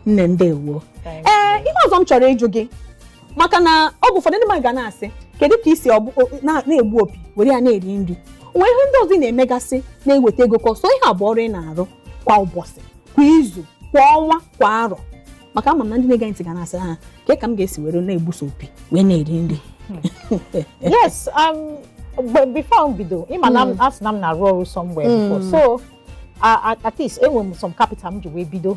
nne ndewo ee ihe ọzọ m chọrọ ịjụ gị maka na oge ụfọdụ ndị mmadụ ga na-asị kedu ka i si ọbụ- o- na- na-egbu opi were ya na-eri nri o nwee ihe ndị ọzọ ị na-emegasị na-eweta ego ka ọ sọ ihe a bụ ọrụ ị na-arụ kwa ụbọchị kwa izu kwa ọnwa kwa arọ maka ama m na ndị na-ege ntị ga na-asị ha ke ka m ga-esi were na-egbu sọ opi wee na-eri nri yes um but before m bido ịma na m- asị na m na-arụ ọrụ somewhere before so a- a- at least enwere m some capital m ji wee bido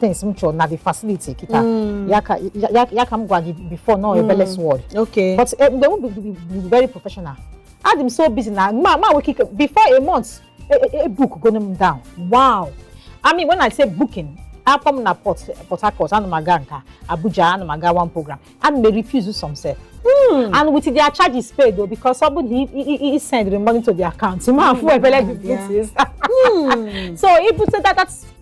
things m chọrọ na the facility kịta Mm. ya ka ya- ya- ya ka m gwa gị before nọ ebele's world okay but eh, mgbe m bụ- bụ- bụ very professional adị m so busy na m ama nwekwe ike before a month e- e- e book gonu m down wow i mean when i say booking a kpọ m na port port harcourt ana m aga nke abuja ana m aga one program ana m refuse some sef and with their charges paid o because ọ bụ na i- i- i- i send the money to the account ma fụ ebele the yeah. flutist so ibute that that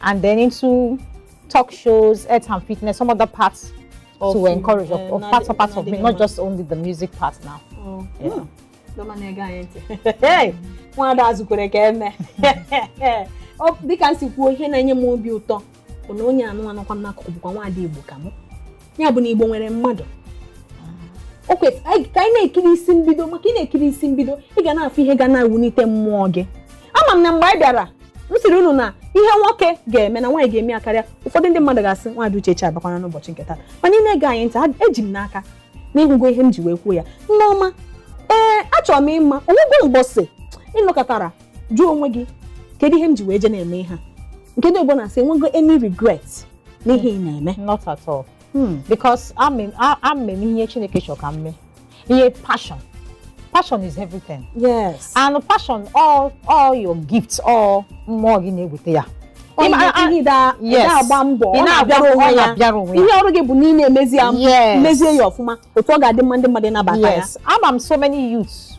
And then into talk shows, health and fitness, some other parts of, to encourage, uh, of, of parts of parts of me, not just only the music part now. Oh. Yeah. Hmm. Hey, nwaada a zukwere ka e mee dịka m si kwuo ihe na-enye m obi ụtọ bụ na onye a nọkwa m n'akụkụ bụkwa nwaada Igbo ka mụ ya bụ na igbo nwere mmadụ o kwesịrị anyị- ka anyị na-ekiri isi mbido maka ị na-ekiri isi mbido ị ga na-afụ ihe ga na-ewunite mmụọ gị ama m na mgbe anyị bịara m sịrị unu na ihe nwoke ga-eme na nwaanyị ga-eme ya karịa ụfọdụ ndị mmadụ ga-asị nwaada uchechi abịakwana n'ụbọchị nke taa mana ị na-ege anyị ntị a- eji m n'aka na ị hụgo ihe m ji wee kwuo ya nne ọma ee achọrọ m ịma o nwego mgbọsị ị nọkatara jụọ onwe gị kedu ihe m ji wee je na-eme ihe a nke ndị oyibo na-asị i nwego any regret n'ihe ị na-eme not at all Hmm. because ama m a- ama m ihe chineke chọrọ ka m mee ihe passion passion is everything yes and passion all all your gifts all mmụọ gị na-eweta ya Ị ma- a- ihe da Yes. da agba mbọ Ị ọ na-abịara na-abịara onwe onwe ya ya. na-abịara onwe ya. ihe ọrụ gị bụ na ị na-emezi ya Yes. mezie ya ọfụma otu ọ ga-adị mma ndị mmadụ ịnabata ya yes ama m so many youths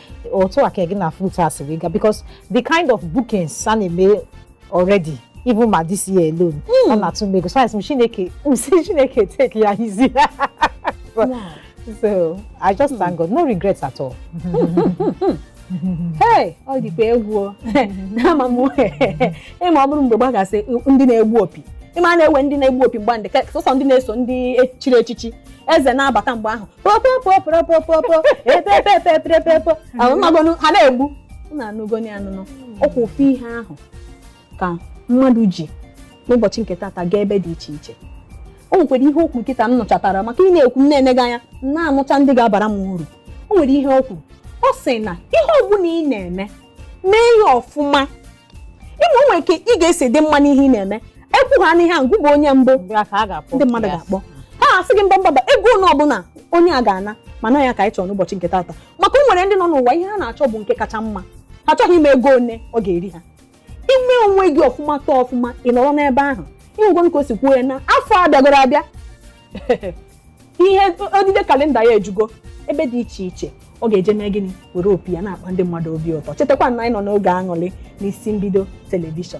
otu a ka gị na flute a si wee gaa because the kind of bookings a na-eme already even ma this year alone ọ na-atụ m egwu so asị m chineke m si chineke take ya easy so i just thank god no regrets at all Hey, ọ dịkwa egwu o. nne ọma m ịma ọ bụrụ mgbe gbagasị ndị na-egbu opi ịma a na-ewe ndị na-egbu opi mgbe ahụ ndị ka- sọsọ ndị na-eso ndị chiri echichi eze na-abata mgbe ahụ popopopopopopo epepepepepepo ahụ ị magonu ha na-egbu unu anụgonụ ya nụ ọkwa ofu ihe ahụ ka mmadụ ji n'ụbọchị nke tata gaa ebe dị iche iche o nwekwara ihe o kwu kịta m nụchatara maka ị na-ekwu m na-ene gị anya m na-anụcha ndị ga-abara m uru o nwere ihe o kwu ọ sị na ihe ọbụla ị na-eme mee ya ọfụma ị ma o nwere ka ị ga-esi dị mma n'ihe ị na-eme e kwuhanụ ihe ahụ gị bụ onye mbụ ndị mmadụ ga-akpọ ha asị gị mba mba mba ego one ọbụla onye a ga-ana mana ya ka anyị chọrọ n'ụbọchị nke taata maka o nwere ndị nọ n'ụwa ihe ha na-achọ bụ nke kacha mma ha achọghị ịma ego one ọ ga-eri ha i mee onwe gị ọfụma tọọ ọfụma ị nọrọ n'ebe ahụ ị hụgonụ ka o si kwuo ya na afọ abịagoro abịa ihe odide kalenda ya ejugo ebe dị iche iche ọ ga-eje mee gịnị were opi ya na-akpa ndị mmadụ obi ụtọ chetakwa na anyị nọ n'oge aṅụrị n'isi mbido telivishọn